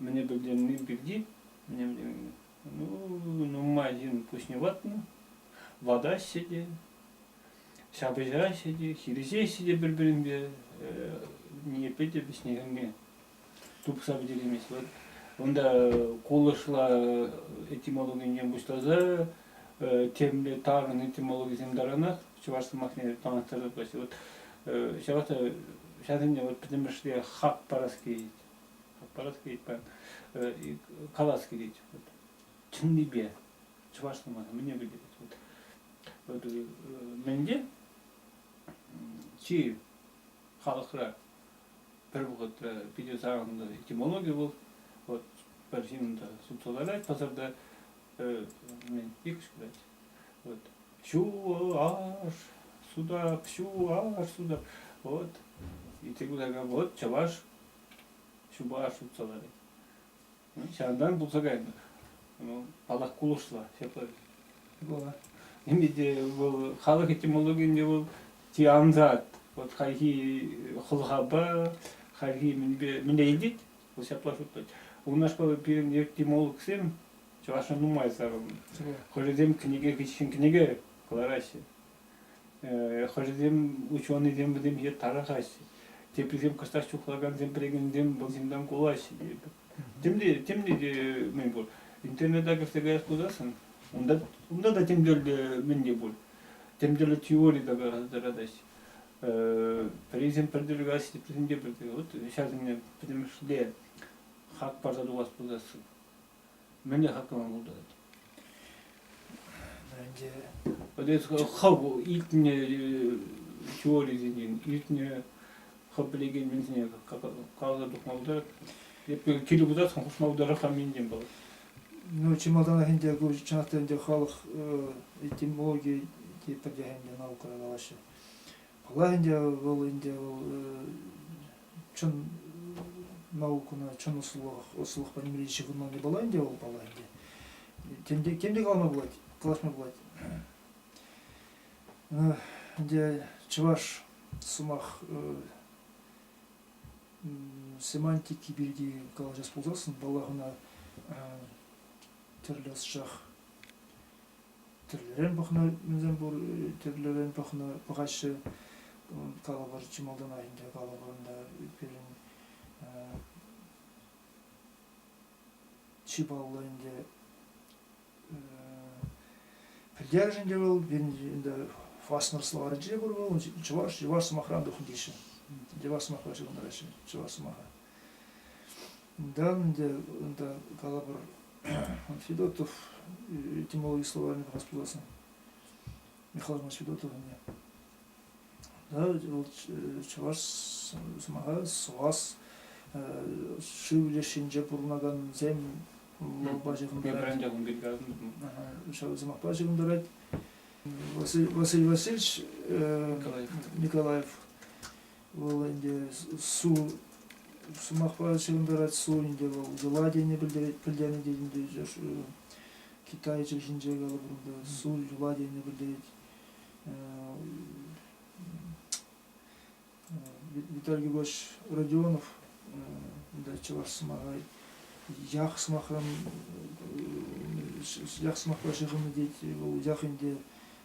Мӗне пӗлтерни пирки, ну, нумай ҫын пуҫне ватнӑ, ватаҫҫӗ те, ҫапӑҫаҫҫӗ те, хирӗҫеҫҫӗ те пӗр-пӗринпе, ниепле те вӗҫне-хӗрне тупса пӗтереймест. Вот унта кулӑшла этимологинчен пуҫласа темле тарӑн этимологисем таранах чӑваш сӑмахне танлаштарса пыраҫҫӗ. Вот ҫавах та ҫавсенчен вот пӗтӗмӗшле хак парас килет. парас килет, калас килет. чӑннипе чӑвашла мана мӗне пӗлтерет. Вот, вот менде чи халӑхра пӗр вӑхӑтра питӗ сарӑннӑ этимология был. Вот пӗр ҫыннӑн сутсаларать пасарта мен ик сказать. Вот чуваш суда, чуваш суда. Вот и ты говоришь, вот чуваш ҫупа аш тупса ларать. Ҫавӑнтан пулса кайнӑ. Паллах, кулӑшла ҫапларах. Ӗмӗте вӑл халӑх этимологийӗнче вӑл тиансат. Вот хайхи хӑлхапа, хайхи мӗнпе, мӗнле илет, вӑл ҫапла шутлать. Унашкал пирӗн этимологсем чӑвашӑн нумай сарӑлнӑ. Хӑшӗсем кӗнеке кӗҫӗн кӗнеке кӑлараҫҫӗ. Хӑшӗсем ученӑйсем вӗсемпе тарӑхаҫҫӗ, теприсем кӑштах чухлакансем пӗлекенсем вӑл ҫынтан кулаҫҫӗ. Темле, темле те мӗн пур. Интернета кӗрсе каяс пулсассӑн унта, унта та тӗмтӗрлӗ мӗн те пуль. Тӗмтӗрлӗ теори тата тӑратаҫҫӗ. Пӗрисем пӗр тӗл каҫҫӗ, теприсем те пӗр тӗл. Вот ҫавсене пӗтӗмӗшле хак парса тухас пулсассӑн. мӗнле хаклама пултарать? Ӗнтӗ хӑв илтнӗ теорисенчен илтнӗ хӑв пӗлекен менсене каласа тухма пултарать. Эпир киле пытасшӑн хушма пултарать-ха минтен палӑр. Ну, чи малтанах ӗнтӗ ку чӑнах та ӗнтӗ халӑх этимологи те пӗртех ӗнтӗ наукӑра калаҫҫӗ. Паллах ӗнтӗ вӑл ӗнтӗ вӑл чӑн наукӑна чӑн ӑслӑлӑх ӑслӑлӑх пӗлӗмри ҫыхӑнманни пулла ӗнтӗ вӑл паллах ӗнтӗ. Тем те тем те калама пулать, калаҫма пулать. Ӗнтӗ чӑваш сӑмах семантики пирки калаҫас пулсассӑн, паллах, ӑна тӗрлӗ ӑсчах тӗрлӗрен пӑхнӑ мӗнсем пур, тӗрлӗрен пӑхнӑ пӑхаҫҫӗ. Калӑпӑр чи малтанах ӗнтӗ калӑпӑр ӑнта пирӗн чи паллӑ ӗнтӗ пӗлтерӗш ӗнтӗ вӑл пирӗн ӗнтӗ фаснер словарӗнче пур вӑл чӑваш чӑваш сӑмахран тухнӑ теҫҫӗ. Чӑваш сӑмахра ҫырӑнтараҫҫӗ чӑваш сӑмаха. Да, ӗнтӗ унта калӑпӑр Федотов этимологи словарьне пӑхас пуласӑн. Михаил Иванович Федотов ӗне. Да, вӑл чӑваш сӑмаха сӑвас шыв лешӗнче пурӑнакансем лавпа ҫыхӑнтарать. Ҫав сӑмахпа ҫыхӑнтарать. Василий Васильевич Николаев вӑл ӗнтӗ су сӑмахпа ҫырӑнтарать су ӗнтӗ вӑл удала тени пӗлтернӗ тетӗнтӗ чӑш Китай чӗлхинче калӑпӑр та су юла тени пӗлтерет Виталий Григорьевич Родионов да чӑваш сӑмаха ях сӑмахран ях сӑмахпа ҫыхӑннӑ тет вӑл ях ӗнтӗ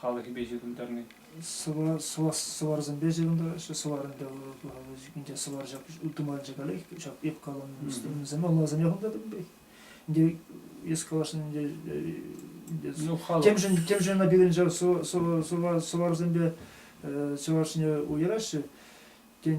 халӑхӗпе ҫыхӑнтарни? Сӑварсемпе ҫыхӑнтараҫҫӗ. Сӑвар ӗнтӗ ӗнтӗ сӑвар ҫак ытмалчӗ калех ҫак эп каланӑ вӗсем алласем яхӑнтатӑп пек. Ӗнтӗ эс калаҫнӑ ӗнтӗ темшӗн темшӗн ӑна пирӗнче сӑварсемпе чӑвашне уйӑраҫҫӗ. Тен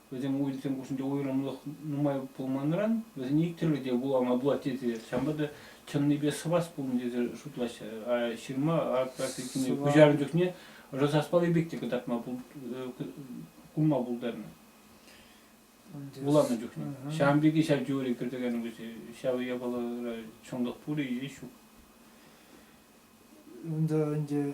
Вӗсем уйрӑмсем хушшинче уйрӑмлӑх нумай пулманран вӗсене иккӗшӗ те вулама пулать тесе ҫавӑнпа та чӑннипе сӑвас пулнӑ тесе шутлаҫҫӗ. А ҫырма атакине куҫарнӑ чухне ӑшӑ саспалли пек те кӑтартма курма пултарнӑ. Вуланӑ чухне. Ҫавӑн пекки ҫав теори кӗртекен вӗсем. Ҫав япалара чӑнлӑх пурӗ ҫук. Унта ӗнтӗ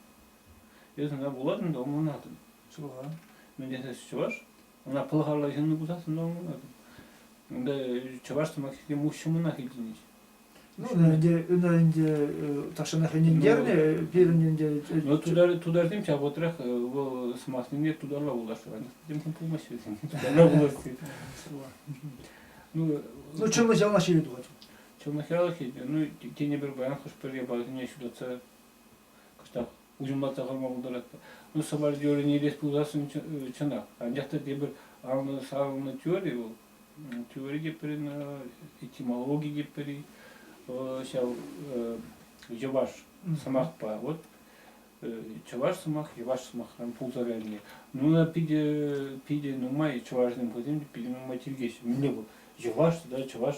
Эс ӑна вулатӑн та ӑмланатӑн. Суха. Мӗн тесес чӑваш? Ӑна пӑлхарла ҫынни пулсассӑн та ӑмланатӑн. Унта чӑваш сӑмахӗсем уҫҫӑмӑнах илтӗнӗҫ. Ну, ӗнтӗ, ӗнтӗ, ӗнтӗ тахҫанах ӗнентернӗ пирӗн ӗнтӗ. Ну, тутар, тутарсем ҫав вӑхӑтрах вӑл сӑмахсемпе тутарла вулаҫҫӗ. Тем пулмасть вӗсем. Тутарла вулаҫҫӗ. Ну, ну чӑмӑс яланах ҫине тухать. Чӑмӑс яланах ҫине. Ну, тенӗ пӗр паян хӑш-пӗр япаласене ҫутатса кӑштах уҫӑмлатса хӑварма пултаратпӑр. Ну, сопровождение илес пулсассӑн чӑнах. Анчах та тепӗр анлӑ сарӑлнӑ теори вӑл. Теори те пӗрин, этимологи те пӗри, ҫав йӑваш сӑмахпа. Вот чӑваш сӑмах йӑваш сӑмахран пултарайли. Ну, питӗ, питӗ нумай чӑвашсем хӑйсем питӗ нумай тивкеҫҫӗ. Мӗнле вӑл? Йӑваш тата чӑваш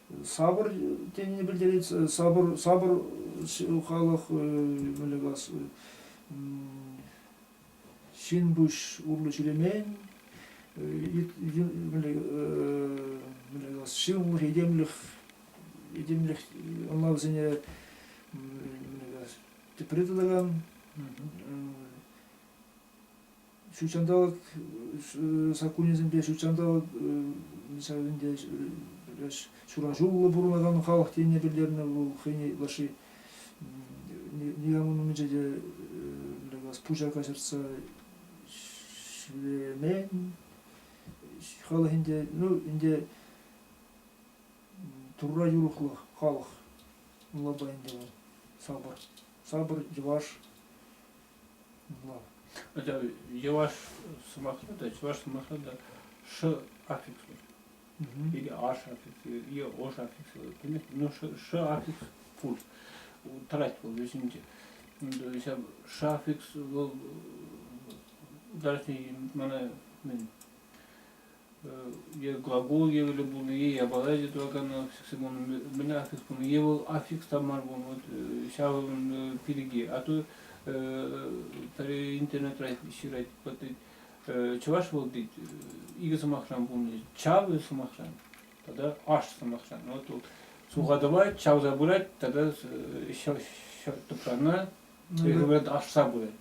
Сабыр тенине пӗлтерет, сабыр, сабыр халӑх мӗнле калас, ҫын пуҫ урлӑ ҫӳремен, мӗнле калас, ҫывӑхлӑх, этемлӗх, этемлӗх ӑнлавсене тепре тытакан ҫутҫанталӑк саккунӗсемпе ҫутҫанталӑк мысалы ӗнтӗ ҫураҫуллӑ пурӑнакан халӑх тенине пӗлтернӗ вӑл хӑйне ытлашши никамӑн умӗнче те пуҫа каҫӑртса ҫӳремен халӑх ӗнтӗ ну ӗнтӗ турра юрӑхлӑх халӑх ӑнлава ӗнтӗ вӑл сапӑр сапӑр йӑваш Хотя йӑваш сӑмахра та, чӑваш сӑмахра та ш аффикс пуль. Или аш аффикс, или ош аффикс. Понимаете, но ш аффикс пуль. Тӑрать вӑл вӗсенче. То есть ш аффикс вӑл даже мана мен е глагол евӗрлӗ пулнӑ-и, япала ӗҫе тӑваканӑ сексен мӗн аффикс пулнӑ е вӑл аффикс та мар пулнӑ, вот ҫавӑн пирки. А то интернетра ҫырать, чӑваш вӑл тет икӗ сӑмахран пулнӑ, чавӗ сӑмахран тата аш сӑмахран. Вот тут сухатӑва чавса пырать тата ҫӗр тӑпрана аш пырать.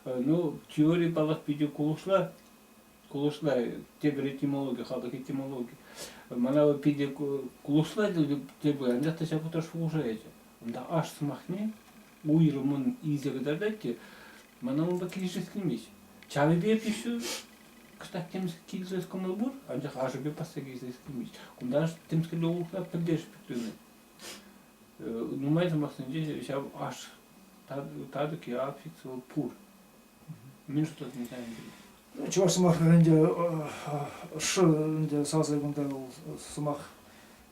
Ну, теори паллах питӗ кулӑшла, кулӑшла тепӗр этимологи, халӑх этимологи. Мана вӑл питӗ кулӑшла тепӗр, анчах та ҫак утра шухӑшаячӗ. Унта аш сӑмахне уйрӑмӑн илсе кӑтартать те, мана унпа килӗшес килмест. Чавӗпе пиҫӳ кӑштах темсӗр килсес кӑмӑл пур, анчах ашӗпе пасса килсес килмест. Кунта аш темскерпе улӑхла пӗлтерӗшлӗ тытӑнать. Нумай сӑмахсенче ҫав аш татӑк е аффикс вӑл пур. Мӗн шутлатӑн та ӗнтӗ? Чӑваш сӑмахӗ ӗнтӗ ӑшшӑ ӗнтӗ сасӑ кунта вӑл сӑмах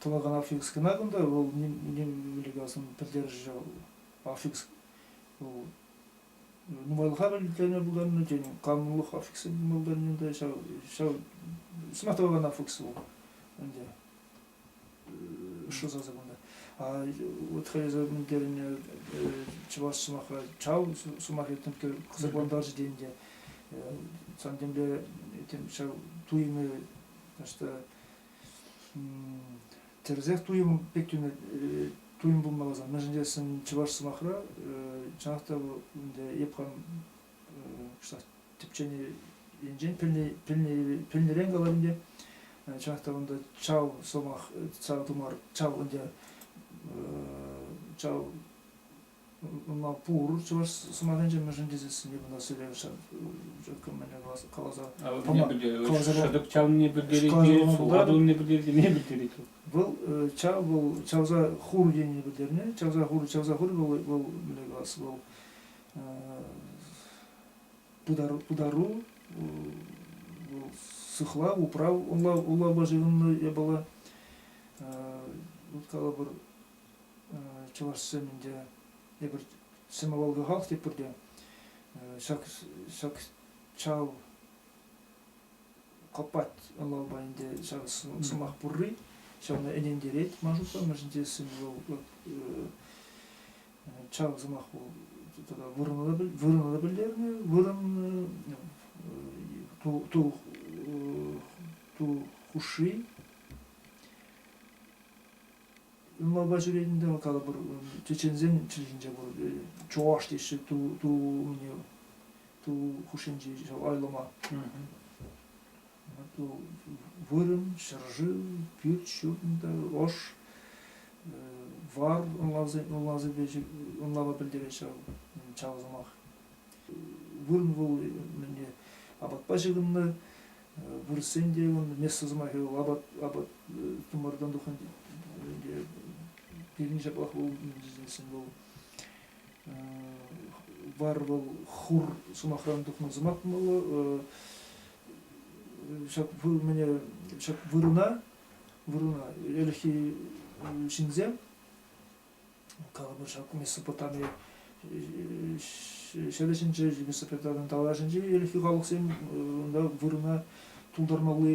тӑвакан аффикс кӑна кунта вӑл ним ним меликасын пӗлтерӗшӗ аффикс вӑл нумайлӑха пӗлтерме пултарнӑ тен канлӑх аффиксӗ пулма пултарнӑ та ҫав ҫав сӑмах тӑвакан аффикс вӑл ӗнтӗ шутласа кунта. Вот хотел дерне чӑваш сӑмаха чау сӑмах этнемке кызыкландырчӗ денде сан темле этем ҫав туйӑмы что тӗрсех туйӑм пек тӳнө туйӑм пулмаласа мӗншӗн тесен чӑваш сӑмахра чӑнах та ӗнтӗ эп хам тӗпченинчен пӗлнӗрен калать ӗнтӗ чӑнах та унта чав сӑмах чав тумар чав ӗнтӗ чав ӑна пур чӑваш сӑмахӗнче мӗншӗн тесессӗн эп ӑна сӗлевҫӗ кӗмӗле каласа шӑтӑк чавнине пӗлтерет сулха тунине пӗлтеретине пӗлтерет вӑл чав вӑл чавса хур тенине пӗлтернӗ чавса хур чавса хур вӑл вӑл мӗнле калас вӑл пытару, пытару вӑл сыхлав, управ улама ҫыхӑннӑ япала. Вот калӑпӑр, чӑвашсем ӗнтӗ эпир сӗмавалкахах тепӗр те ҫак ҫак чав копать ӑнлавпа ӗнтӗ ҫак сӑмах пурри ҫавна ӗнентерет ман шутланмашӑн тесен вӑл ҫавӑн сӑмах вырӑна та пӗлтернӗ вырӑн ту хушши унпа ҫӳренӗ калӑпӑр чеченсен чӗлхинче пур чӑваш теҫҫӗ ту ту умне ту хушшинчи айлӑма вырӑн, ҫӗршыв, пӳрт, ҫурта, ӑш, вар ӑнлава пӗлтерет ҫав сӑмах. Вырӑн вӑл мӗнле апатпа ҫыхӑннӑ, вырӑссен те вӑл место сӑмахӗ вӑл апат апат тымартан тухнӑ пирӗн ҫаплах вӑл вӑл вар вӑл хур сӑмахран тухнӑ сӑмах пулмалла ҫак мӗне ҫак вырӑна вырӑна ӗлӗкхи ҫынсем калӑпӑр ҫак Месопотами ҫӗрӗсенче Месопотамин таврашӗнче ӗлӗкхи халӑхсем унта вырӑна тултармалли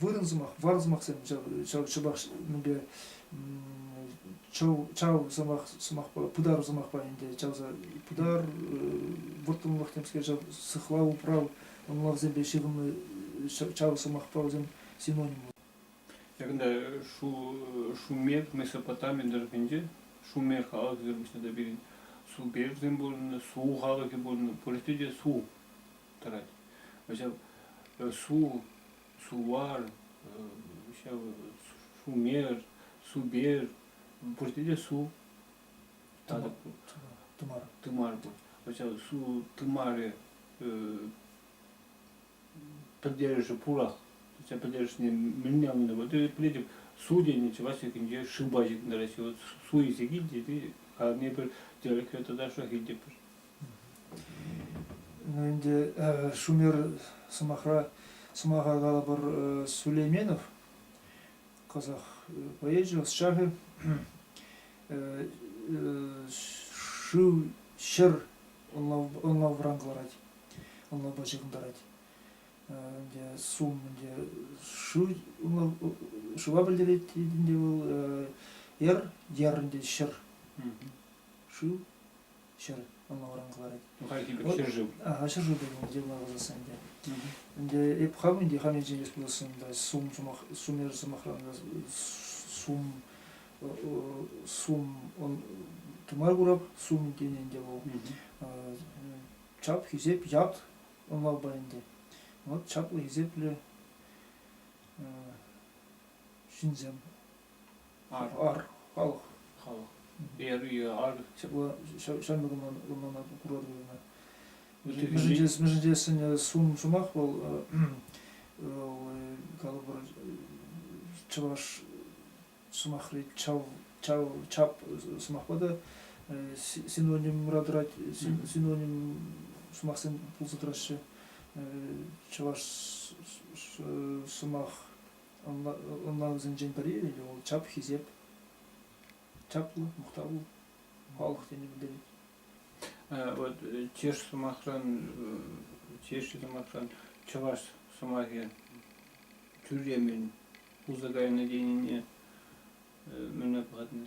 вырӑн сӑмах, вар сӑмахсем ҫав шӑпах мӗнле чав, чав сӑмах сӑмахпа пытар сӑмахпа ӗнтӗ чавса пытар вӑрттӑнлӑх темскер ҫав сыхлав управ ӑнлавсемпе ҫыхӑннӑ чав сӑмахпа вӗсем синоним Якында шу Шумех Месопотамин тӑрӑхӗнче Шумех халӑхӗсем пуҫне та пирӗн су берзин пурӑннӑ су халӑхӗ пурӑннӑ пурте те су тӑрать. Су, сувар, сумер, субер, пурте те су. Тымар. Тымар пур. Су тымарӗ пӗлтерӗшӗ пурах. пӗлтерӗшне мӗнне ӑннӑ. Вот пӗлетӗп, су тенӗ чӑваш тӗкӗнче шыба ҫитнӗ Россия. Вот су илсе килте, ты камепер, тӗрекре тата шах илтепер. Ӗнтӗ шумер сӑмахра сӑмаха калӑпӑр Сулейменов казах поэчӗ ӑсчахӗ шыв ҫӗр ӑнлавран кӑларать ӑнлавпа ҫыхӑнтарать ӗнтӗ сум ӗнтӗ шыв ӑнлав шыва пӗлтерет ӗнтӗ вӑл ер ер ӗнтӗ ҫӗр шыв ҫӗр ӑна варан кӑларать. Хальхи пек ҫӗршыв. А, ҫӗршыв пулин те лавӑсас ӗнтӗ. Ӗнтӗ эп хам ӗнтӗ хам енчен эс пулассан та сум сумах сумер сӑмахран сум сум тымар курап сум тенӗ ӗнтӗ вӑл. Чап хисеп ят ӑнлавпа ӗнтӗ. Вот чаплӑ хисеплӗ ҫынсем Ар, халӑх. Халӑх. Берия, ар. Ҫавна курмана курар вырӑна. Мӗшӗнче сӗнӗ сумах вӑл калӑпӑр чӑваш сӑмахри чав чав чап сӑмахпа та синонимра тӑрать синоним сӑмахсем пулса тӑраҫҫӗ чӑваш сӑмах Ӑнлавсенчен пӗри вӑл чап хисеп, чаплӑ, мухтавлӑ халӑх тени пӗлтерет. Вот чӑваш сӑмахран, чӑваш сӑмахран чӑваш сӑмахӗ тӳрремӗн пулса кайнӑ тенине мӗне пӑхатӑн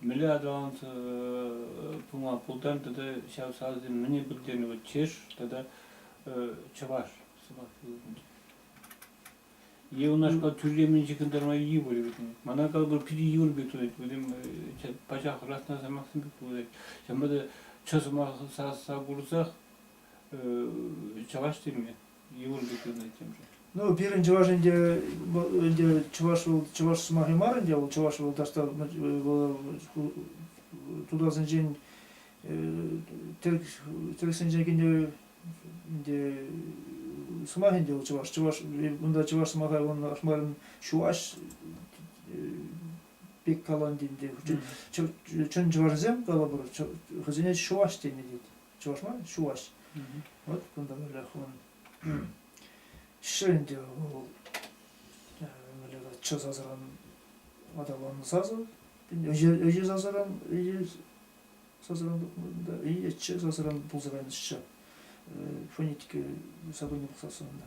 Мӗнле аталанса пыма пултарнӑ тата ҫав саласем мӗне пӗлтернӗ вот чеш тата чӑваш сӑмах е унашкал тӳрлемен ҫыхӑнтарма йывӑр вӗт. Мана калӑпӑр питӗ йывӑр пек туять. Вӗсем пачах расна сӑмахсем пек туять. Ҫавӑнпа та чӑ сӑмаха курсах чӑваш теме Юрий Литвина темшӗн. Ну, пирӗн чӑваш ӗнтӗ, ӗнтӗ чӑваш вӑл чӑваш сӑмахӗ мар ӗнтӗ, вӑл чӑваш вӑл таҫта тутарсенчен тӗрӗксенчен килнӗ ӗнтӗ сӑмах ӗнтӗ вӑл чӑваш. Чӑваш унта чӑваш сӑмаха он ахмарӑн чуаш пек каланӑ ӗнтӗ. Чӑн чӑвашсем калӑпӑр, хӑйсене чӑваш тенӗ тет. чӑвашла чуваш. Вот кунта телефон. Шенде вӑл часасран аталансасу ӗҫе сасран ӗҫе сасран да ӗҫе сасран пулса кайнӑччӗ фонетика сотрудник сасӑнда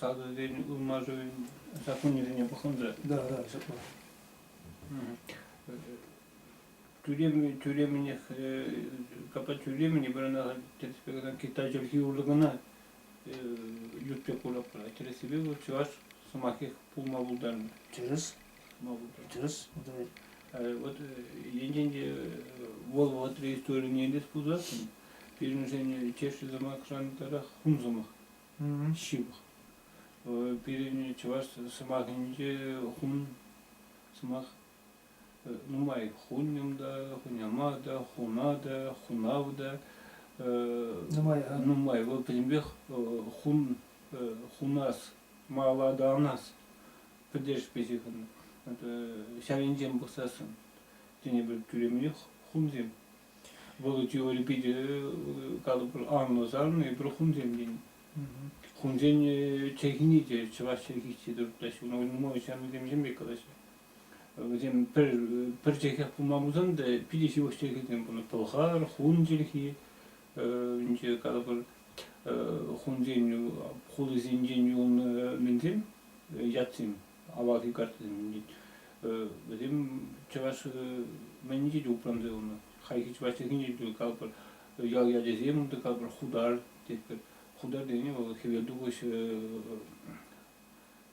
садӑсен ылмашӑвӗн саккунӗсене пӑхӑн та. Да, да, ҫапла. Тӳремӗ, тӳремӗнех, капа тӳремӗне пирӗн тӗрӗспе кӑна Китай чӗлхи урлӑ кӑна ют пек курӑпӑр. Тӗрӗссипе вӑл чӑваш сӑмахи пулма пултарнӑ. Тӗрӗс. Тӑс, вот енчен вӑл вӑтри историне те пулсассӑн, пирӗншен чешши сӑмах шантарах хум сӑмах, ҫывӑх. Пирӗн чӑваш сӑмахӗнче хум сӑмах нумай хуньӑм та, хуняма та, хуна та, хунав та, нумай, нумай. Вӑл пӗтӗмпех хун, хунас, мала та анас пӗлтерӗшпе ҫыхӑннӑ. Ҫав енчен пӑхсассӑн тӗне пӗр тӳремле хумсем. Вӑл теори питӗ калӑпӑр анлӑ сарнӑ эпир хумсем тенӗ. Хумсен чӗлхине те чӑваш чӗлхисче дуртаҫҫӗ. Нумай ҫамрӑк темсем пек калаҫҫӗ. Вӗсем пӗр пӗр чӗлхе пулма пулсан та питӗ ҫывӑх чӗлхесем пулнӑ. Пӑлхар, хун чӗлхи, Ӗнтӗ калӑпӑр хунсен хулисенчен юлнӑ мӗнсем, ятсем, авалхи картасем. Вӗсем чӑваш мӗнне те упранса юлнӑ. Хайхи чӑвашсенхине те калӑпӑр ял ячӗсем, калӑпӑр хутар тетпӗр. Хутар тени вӑл хӗвелтухӑҫ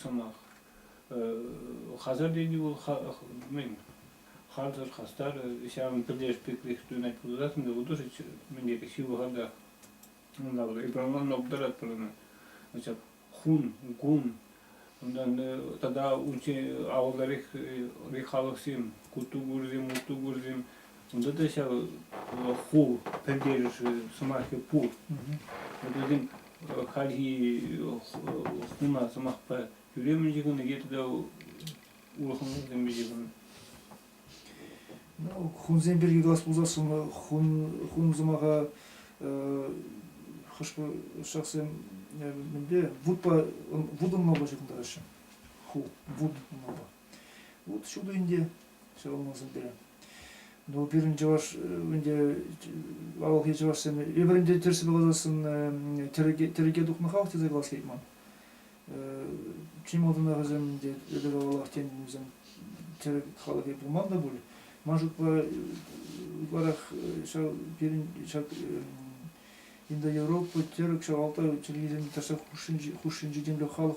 сӑмах. Хасарленӳ вӑл мӗн? харсӑр хастар, ҫавӑн пӗрлешпеклӗх туйӑнать пулсассӑн та художество мӗн тери ҫывӑхартах. Унта экранланма пултаратпӑр ӑна. Ҫак хун, кун, унтан тата унччен авалларех халӑхсем, кутугурсем, мутугурсем Унта та ҫав ху пӗлтерӗшӗ, сӑмахӗ пур. Вӗсем хальхи хуна сӑмахпа тӳремӗн ҫыхӑннӑ е тата улӑхсем ҫыхӑннӑ. Ну, хунсем пирки калас пулсассӑн хун хун сӑмаха хӑш-пӗр ҫаксем мӗнле вутпа вутӑнмалла ҫыхӑнтараҫҫӗ. Ху вут мала. Вот отсюда ӗнтӗ ҫӑлӑнмасӑртарӗ. Ну, пирӗн чӑваш, ӗнтӗ авалхи чӑвашсем эпӗрӗнте тӗрсе палласӑн тӗрӗке тухнӑхах тесе калас килет ман. Чи малтанах вӗсем ӗнтӗ эпир авалах тен вӗсем тӗрӗк халӑхӗ пулман та пуль. Ман шутпа ытларах ҫав пирӗн ҫак Индоевропа тӗрӗк ҫав алта чирлисем таса хушшинчи хушшинчи темле халӑх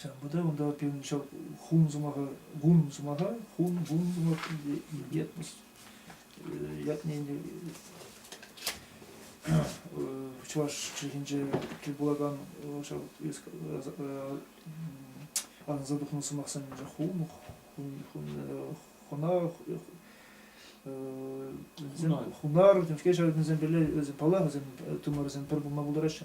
Ҫавӑн пата унта пирӗн ҫав хун сӑмаха гун сӑмаха хун гун сӑмах ятмос ятне ӗнтӗ чӑваш чӗлхинче тӗл пулакан ҫав арӑнса тухнӑ сӑмахсем хун хун хунах хунар темшкел ҫав вӗсем пӗрле вӗсем паллах вӗсем тымарсем пӗр пулма пултараҫҫӗ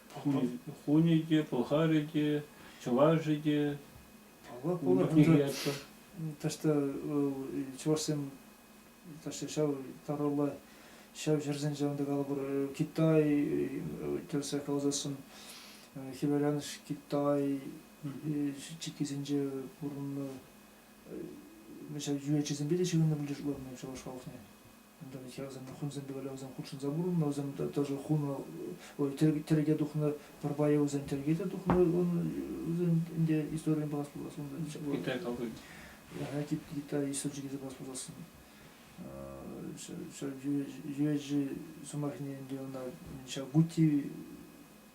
Хунӗ те, пӑлхарӗ те, чӑвашӗ те. Ташта чӑвашсем ташта ҫав таралла ҫав ҫӗрсен ҫавӑнта калӑпӑр Китай тӗрсе каласассӑн хӗвеланӑш Китай чиккисенче пурӑннӑ ҫав юрӑҫӑсемпе те ҫыхӑннӑ пулчӗ чӑваш халӑхне. Хӗрсем, хунсем педагогсем хутшӑнса пурӑннӑ, вӗсем тоже хунӑ, ой, тӗрӗке тухнӑ, пӗр пайӗ вӗсен тӗрӗке те тухнӑ, вӗсен ӗнтӗ историне пулас пулас унта. Китай кални. Я тип Китай источники пулас пуласın. Ҫӗр жуяҫи сӑмахне ӗнтӗ ӑна Чагути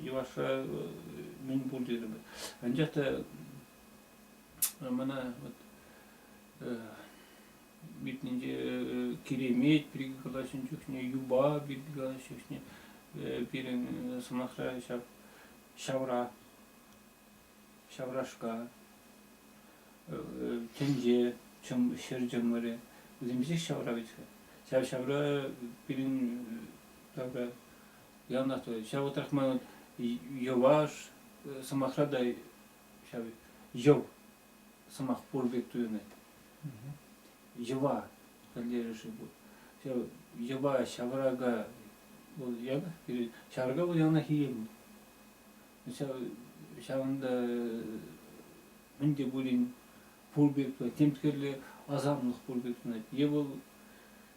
йӑвашра мӗн пур терӗмӗр. Анчах та мана витнинче киремет пирки калаҫнӑ чухне, юпа пирки калаҫнӑ чухне пирӗн сӑмахра ҫав ҫавра ҫаврашка тӗнче чӑм ҫӗр чӑмӑрӗ вӗсем писех ҫавра вӗт-ха. Ҫав ҫавра пирӗн тавра Леонард Анатольевич, ҫав вӑтах ман йӑваш сӑмахра та ҫав йӑв сӑмах пур пек туйӑнать. Йӑва пӗлтерӗшӗ пур. Ҫав йӑва ҫаврака вӑл янах ҫаврака вӑл янах ийе пур. Ҫав ҫавӑнта мӗн те пулин пур пек тем тӗрлӗ асамлӑх пур пек тунать. Е вӑл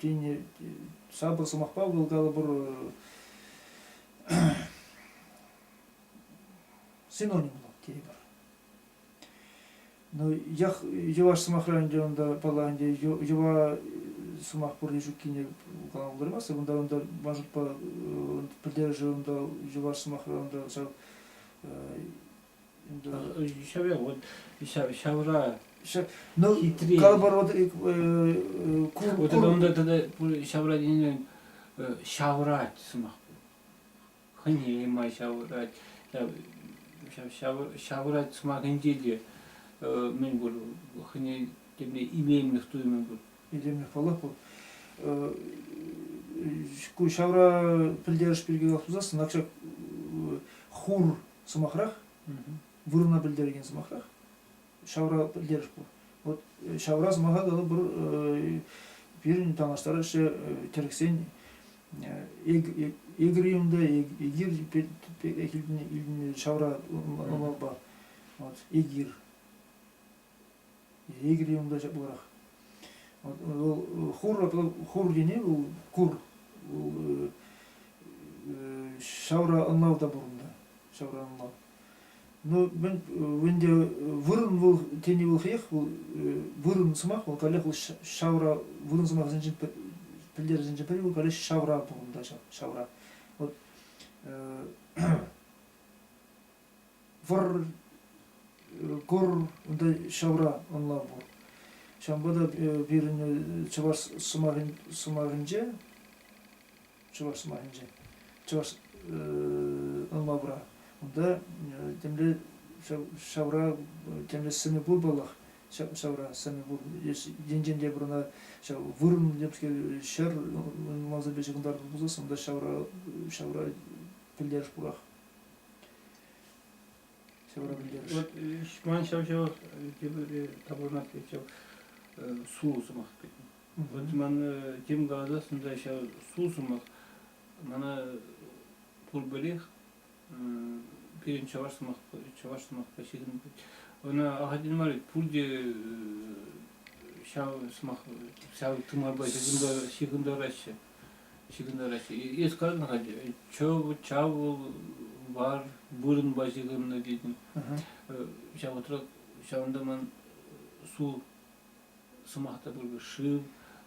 тен, сапӑр сӑмахпа вӑл калӑпӑр синоним пулать тейӗпӗр. Ну, ях йӑваш сӑмахра ӗнтӗ унта, пала ӗнтӗ, йӑва сӑмах пурри ҫуккине калама пултармастся. Унта унта мажутпа пӗлтерӗшӗ унта йӑваш сӑмахра унта ҫав Ҫаве вот ҫавра ну калӑпӑр вот вот это onda тата ҫавра тенӗ ҫаврать сӑмах хӑнема ҫаврать ҫаврать сӑмахӗнче те мӗн пур хӑне темне илемлӗх туйӑмӗ пур илемлӗх паллах пур ку ҫавра пӗлтерӗш пирки калас пулсассӑн акша хур сӑмахрах, вырӑна пӗлтерекен сӑмахрах, ҫавра пӗлтерӗш пур. Вот э, ҫавра сӑмаха тата пӗр э, пирӗн танлаштараҫҫӗ э, тӗрӗксен егриюмда егир ҫавра ӑмӑрпа вот егир Егерь унта ҫапларах. Вӑл хур, хур ене вӑл кур. Вӑл ҫавра ӑнлав та пур унта, ҫавра ӑнлав. Ну, мӗн, вӗнте вырӑн вӑл тени вӑл хӑех, вӑл вырӑн сӑмах, вӑл каллех вӑл ҫавра вырӑн сӑмахӗсенчен пӗлтерӗшӗнчен пӗри вӑл каллех ҫавра пур унта ҫавра. Вот вӑр кур унта ҫавра ӑнла пур. Ҫавӑнпа та э, пирӗн чӑваш сӑмахӗн сӑмахӗнче чӑваш сӑмахӗнче чӑваш ӑнлавра унта темле ҫавра темле сӗнӗ пур паллах ҫавра сӗнӗ пур енчен те пӗр ӑна ҫав вырӑн темскер ҫӗр ӑнланса печӗ кӑнтарту пулсассӑн унта ҫавра ҫавра пӗлтерӗш пурах. Вот ман ҫав ҫав тепӗр таборнат ҫав сулӑ сӑмах Вот ман тем каласассӑн ҫав сулӑ сӑмах мана пурпӗрех пирӗн чӑваш сӑмах чӑваш сӑмахпа ҫыхӑнать ӑна ахальтен мар пурте ҫав сӑмах ҫав тымарпа ҫыхӑнтараҫҫӗ ҫыхӑннӑ России. Эс каланӑ ӗнтӗ, чав, чавул бар вырӑнпа ҫыхӑннӑ тетӗн. Э, ҫав вӑхӑтра ҫавӑнта ман су сӑмах та пур шыв,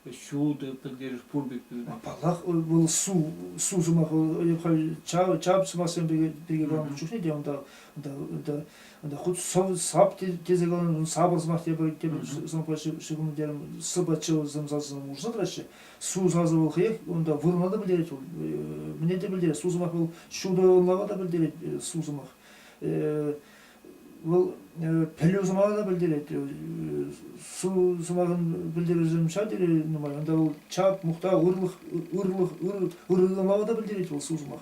ҫутӑ пӗлтерӗш пур пек пирӗн. Паллах, вӑл су, су сӑмахӗ халь чав, чав сӑмахсем пирки, пирки каланӑ чухне те унта, унта, унта, унта хут сӑв, сап тесе каланӑ, сапӑр сӑмах тепӗр, тепӗр сӑмахпа ҫыхӑннӑ терӗм, сыпа чывсем сасӑсем урса тӑраҫҫӗ. Су сасӑ вӑл хӑех унта вырма та пӗлтерет вӑл. Мӗне те пӗлтерет. Су сӑмах вӑл ҫутӑ лава та пӗлтерет су сӑмах. Вӑл пӗлӳ сӑмахӗ те пӗлтерет. Су сӑмахӑн пӗлтерӗшӗ ҫав тери нумай. Унта вӑл чап, мухтав, ырлӑх, ырлӑх, ырӑллӑ лава та пӗлтерет вӑл су сӑмах.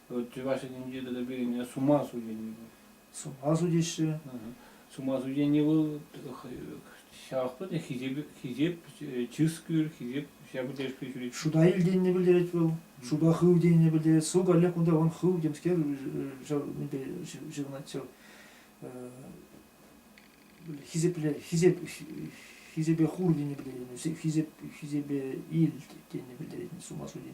Чӑваш Енӗнче тата пирӗн сума сутенни пур. Сума сутеҫҫӗ. Сума сутенни вӑл ҫавӑнпа та хисеп, хисеп чыс-кӳр, хисеп ҫакӑн тӗлӗшпе ҫӳрет. Шута ил тенине пӗлтерет вӑл, шута хыв тенине пӗлтерет. Су каллех кунта вон хыв темскер ҫав мӗнпе ҫырӑнать ҫав хисепле хисеп хисепе хур тени пӗлтерет, хисеп хисепе ил тени пӗлтерет, сума су тени.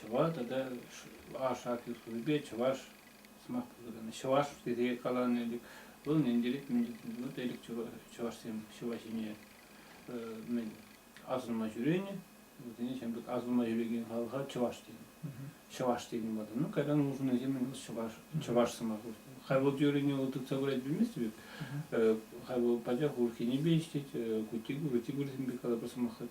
чӑваш тата аш акци хупипе чӑваш сӑмах пулса чӑваш тесе каланӑ ӗнтӗк вӑл нентерек вӑл элек чӑвашсем ҫӑва ҫине мӗн асӑнма ҫӳренӗ вӗсене ҫамрӑк асӑнма ҫӳрекен халӑха чӑваш тенӗ чӑваш тенӗ ватӑ ну когда нужносем вӑл чӑваш чӑваш сӑмах хай вӑл теорине вӑл тытса курать білмест бит хай вӑл пачах уркинепе ӗҫлет кутигурсемпе калапа сӑмахлать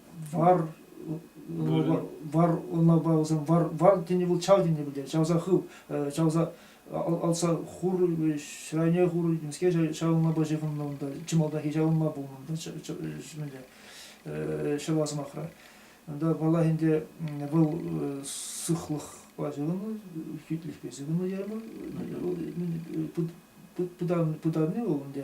вар унапа вӑсем вар вар тени вӑл чав тени пӗлтерет чавса хыв чавса алса хур ҫрайне хур темске ҫавӑнлапа ҫыхӑннӑ унта чӑмалтахи ҫавӑнма пулнӑ унта ҫӗмӗнте ҫӑва сӑмахра унта паллах ӗнтӗ вӑл сыхлӑхпа ҫыхӑннӑ хӳтлӗхпе ҫыхӑннӑ термин пытанни вӑл ӗнтӗ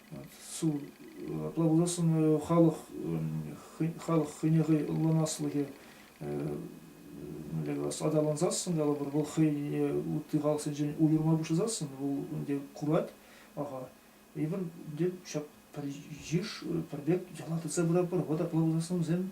плаводосын халӑх халӑх хӑйне хӑй ӑнланаслӑхӗ мӗнле калас аталансассӑн калӑпӑр вӑл хӑйне ытти халӑхсенчен уйӑрма пуҫласассӑн вӑл ӗнтӗ курать аха эпир ӗнтӗ ҫак пӗр йыш пӗр пек яла тытса пыратпӑр вӑта плаводоснӑсем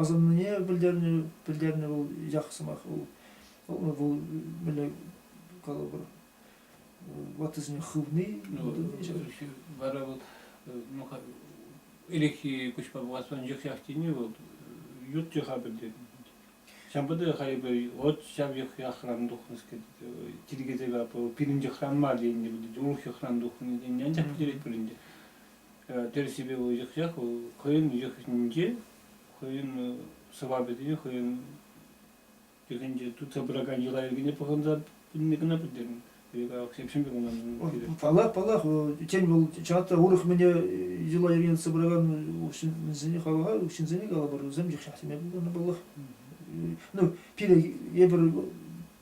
асӑннине пӗлтернӗ вӑл ях сӑмах вӑл вӑл мӗнле калӑпӑр ваттисене хывни вара вот ну ирехи куҫпа пуласран йӑхҫах тени вӑл ют йӑха пӗлтернӗ ҫавӑнпа хайпӗ вот ҫав йӑхран тухнӑскер тиркетепе пирӗн йӑхран мар тенӗ урӑх йӑхран тухнӑ тенӗ анчах пӗтерет пулин те тӗрӗсипе вӑл йӑхсах вӑл хӑйӗн йӑхӗнче хӑйӗн сӑвапӗсене хӑйӗн йӑхӗнче тытса пыракан йӑла-йӗркене пӑхӑнса пынине кӑна пӗлтернӗ. Ҫепҫӗн пек унӑн. Паллах, паллах, тен вӑл чата урӑх мӗне йӑла-йӗркене тытса пыракан ҫынсене хаваха ҫынсене калӑпӑр, вӗсем йӑхҫах теме пултарнӑ паллах. Ну, пире эпир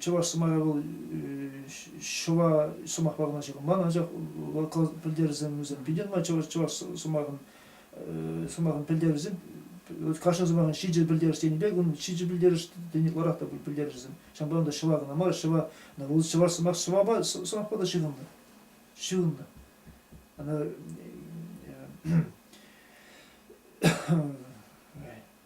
чӑваш сӑмахӗ вӑл ҫӑва сӑмахпа кӑна ҫыхӑнман, анчах вӑл пӗлтерӗсемсем питӗ нумай чӑваш чӑваш сӑмахӑн сӑмахӑн пӗлтерӗшӗсем кашни сӑмахӑн ҫичӗ пӗлтерӗш тенӗ пек унӑн ҫичӗ пӗлтерӗш тени ытларах та пӗлтерӗшӗсем ҫавӑнпа та ҫӑва кӑна мар ҫӑва вӑл чӑваш сӑмах ҫӑвапа сӑмахпа та ҫыхӑннӑ ҫыхӑннӑ она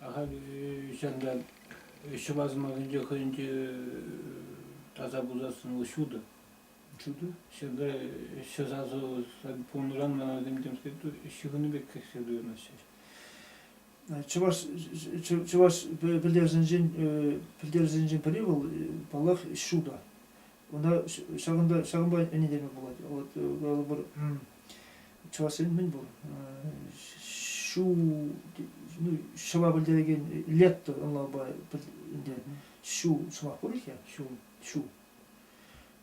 Ахаль ҫантан ҫӑва сӑмахӗнче хӑйӗнче таса пулсассӑн вӑл ҫутӑ. Ҫутӑ? Ҫакна ҫӗр сасӑ пулнӑран мана темскер ҫыхӑну пек кӗрсе туйӑнаҫҫӗ. Чӑваш чӑваш пӗлтерӗшӗнчен пӗлтерӗшӗнчен пӗри вӑл паллах ҫутӑ. Кунта ҫакӑнта ҫакӑнпа ӗнентерме пулать. Вот пӗр чӑвашсен мӗн пур ҫу ну, ҫӑва пӗлтерекен летто ӑнлавпа ӗнтӗ ҫу сӑмах пур-их-я? Ҫу ҫу.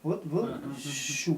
Вот вӑл ҫу.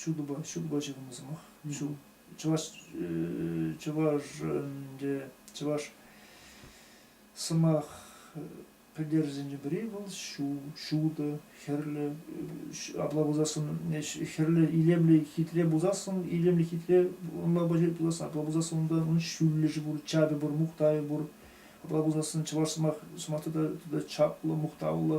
ҫутӑпа ҫутӑпа ҫыхӑннӑ сӑмах ҫул чӑваш чӑваш ӗнтӗ чӑваш сӑмах пӗлтерӗшӗнче пӗри вӑл ҫу ҫутӑ хӗрлӗ апла пулсассӑн хӗрлӗ илемлӗ хитре пулсассӑн илемлӗ хитре пулас апла пулсассӑн унта унӑн ҫӳллӗшӗ пур чапӗ пур мухтавӗ пур апла пулсассӑн чӑваш сӑмах сӑмах тата тата чаплӑ мухтавлӑ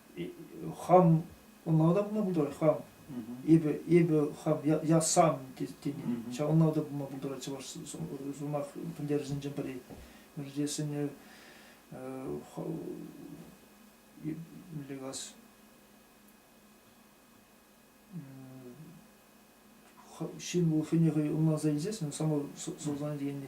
хам ӑнланатӑп ма пултарать хам эпӗ эпӗ хам я сам тени ҫавӑнпа та пулма пултарать чӑваш сӑмах пӗлтерӗшӗнчен пӗри мӗншӗн тесен мӗнле калас ҫын вӑл хӑйне хӑй ӑнланса илсессӗн самое сознание дегенде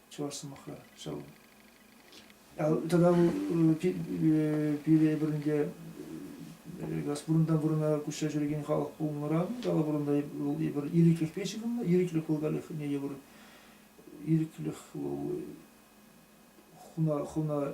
чӑваш сӑмахра ҫав. Тата пире пирӗнте Газпурунта вырӑна куҫса ҫӳрекен халӑх пулнӑран Калапурунта вӑл эпир ирӗклӗхпе ҫыхӑннӑ, ирӗклӗх вӑл каллех евӗр ирӗклӗх вӑл хуна хуна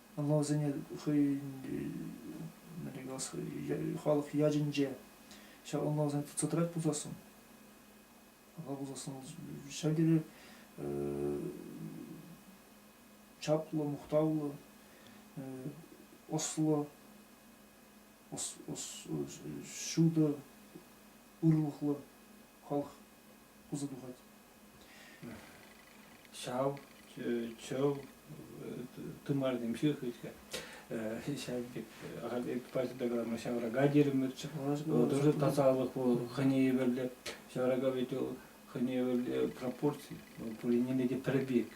Вӑлсене хӑйӗн халӑх ячӗнче ҫавӑнпа вӗсем сӑтӑрать пулсассӑн ӑна пулсассӑн ҫав тери чаплӑ, мухтавлӑ, ӑслӑ, ҫутӑ, ырлӑхлӑ халӑх пулса тухать. Ҫав чӑв тымарсемши хытка ҫав пек ахаль паҫӑрта калама ҫаврака терӗмӗрччӗ. Тоже тасалӑх вӑл хӑйне евӗрлӗ. Ҫаврака ведь ол хӑйне евӗрле пропорци. Пуринне те пӗр пек.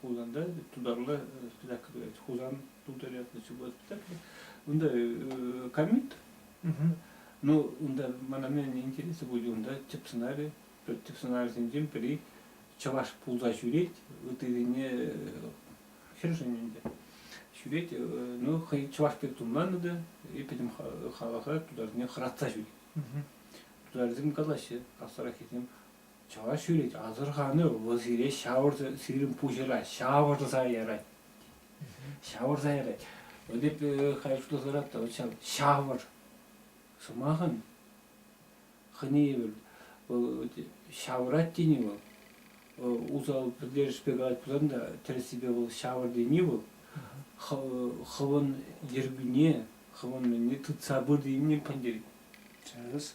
Хусанта тутарла так сказать Хусан тутаря госпиталь. Унда комит, ну, унда мана интересы будет унда тӗп сценарий, тӗп сценарисенчен пӗри чӑваш пулса ҫӳрет, ытирине хӗршӗн ӗнтӗ. Ҫӳрет, ну, хӑй чӑваш пек тумланнӑ та, и пӗтӗм халӑха тутарсене хӑратса ҫӳрет. Тутарсем калаҫҫӗ, хастараххисем, Чӑваш ҫӳрет, асӑрхану вӑл сире ҫавӑрса, сирӗн пуҫӑра ҫавӑрса ярать. Ҫавӑрса ярать. Вот эп хай шутласарах та, вот ҫав ҫавӑр сӑмахӑн хӑнийӗ вӑл ҫавӑрать тени вӑл, усал пӗлтерӗшпе калать пулсан та, тӗрӗссипе вӑл ҫавӑр тени вӑл хӑвӑн йӗркӳне, хӑвӑн тытса пыр тенине пӗлтерет. Тӗрӗс.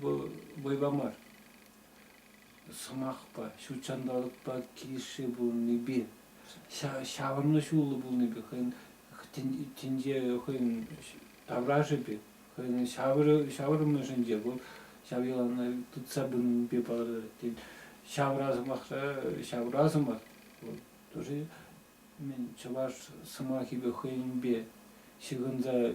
Вӑл вӑйпа мар, сӑмахпа, ҫут ҫанталӑкпа килӗшсе пурӑннипе, ҫавӑрнӑ ҫуллӑ пулнипе хӑйӗн тӗнче хӑйӗн таврашӗ пек, хӑйӗн ҫаврӑнӑшӗнче вӑл ҫав йӑлана тытса пынипе палӑрать. Тен, ҫавра сӑмахра ҫавра сӑмах вӑл тоже мӗн чӑваш сӑмахӗпе хӑйӗнпе ҫыхӑнса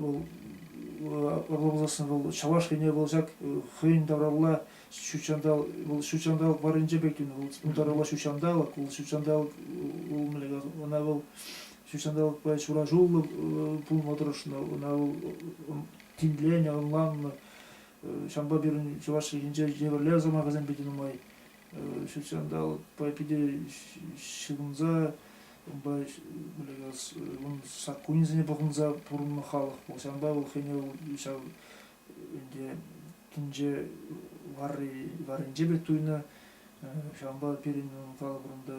вӑл ырла пулсассӑн вӑл чӑваш ене вӑл ҫак хӑйӗн тавралла ҫутҫанталӑк вӑл ҫутҫанталӑк варринче пек тунӑ вӑл ун тавралла ҫутҫанталӑк вӑл ҫутҫанталӑк вӑл мӗнле ӑна вӑл ҫутҫанталӑкпа ҫураҫуллӑ пулма тӑрӑшнӑ ӑна вӑл тимленӗ ӑнланнӑ ҫавӑнпа пирӗн чӑваш чӗлхинче евӗрле сӑмахӗсемпе те нумай ҫутҫанталӑкпа питӗ ҫыхӑнса ун саккунӗсене пӑхӑнса пурӑннӑ халӑх пур ҫавӑнпа вӑл хӑйне вӑл ҫав ӗнтӗ тӗнче варри варринче пек туйнӑ ҫавӑнпа пирӗн калӑпӑрӑн та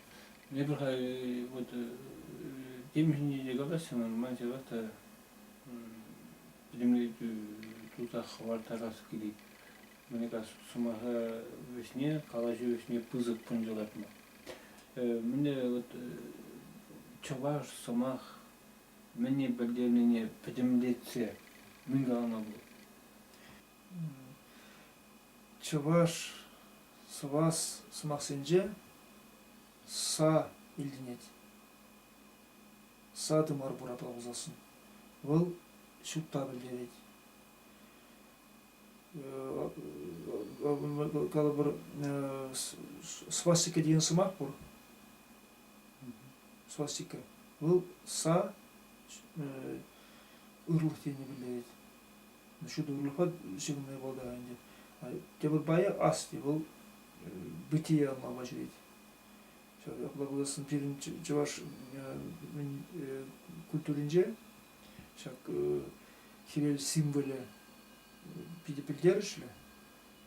Эпир халь вот темиҫӗне те калаҫрӑмӑр, ман ҫавах та пӗтӗмлетӳ туса хӑвартарас килет. Мӗн кас сӑмаха вӗҫне, калаҫу вӗҫне пысӑк кун йӑлатма. Мӗнле вот чӑваш сӑмах мӗне пӗлтернине пӗтӗмлетсе мӗн калама пулать? чӑваш сӑвас сӑмахсенче са илтӗнет са тымар пурапа пулсассӑн вӑл ҫутта пӗлтерет калӑпӑр свастика деген сӑмах пур свастика вӑл са ырлӑх тенине пӗлтерет ҫутӑлӑха ҫырма пултар ӗнтӗ. Тепӗр пайӗ асти вӑл бытие анлама ҫӳрет. Ҫав япала кулассӑн пирӗн чӑваш культуринче ҫак хӗвел символӗ питӗ пӗлтерӗшлӗ.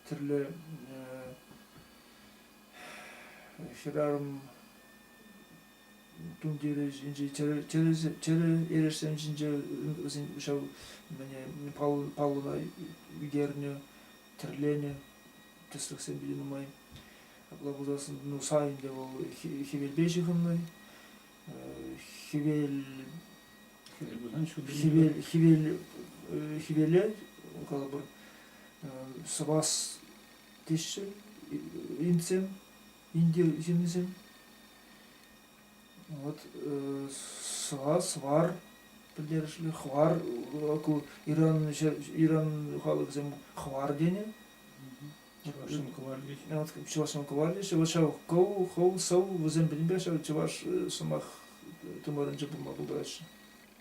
Тӗрлӗ хӗрарӑм тумтирӗ эрешсем ҫинче вӗсен ҫав паллӑна ӳкернӗ тӗрленӗ тӗслӗхсем питӗ нумай апла пулсассӑн ну сайӗнче вӑл хӗвелпе ҫыхӑннӑ хӗвел хӗвел хӗвел хӗвеле калӑпӑр сӑвас теҫҫӗ индсем инди ҫыннисем Вот сӑвар, сӑвар пӗлтерӗшлӗ хӑвар Иран Иран халӑхӗсем хӑвар тенӗ. Чӑвашсем кӑварли. Чӑвашсем кӑварли. Вот ҫав коу, хоу, сау вӗсем пӗтӗмпе ҫав чӑваш сӑмах тымарӗнче пулма пултараҫҫӗ.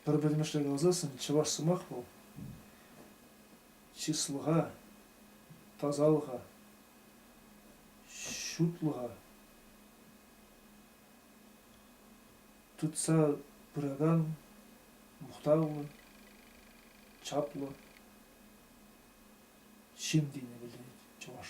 Пӗр пӗтӗмӗшле каласан чӑваш сӑмах вӑл чыслӑха, тасалӑха, ҫутлӑха Тытса пыракан мухтавлӑ, чаплӑ ҫын тенине пӗлтерет чӑваш.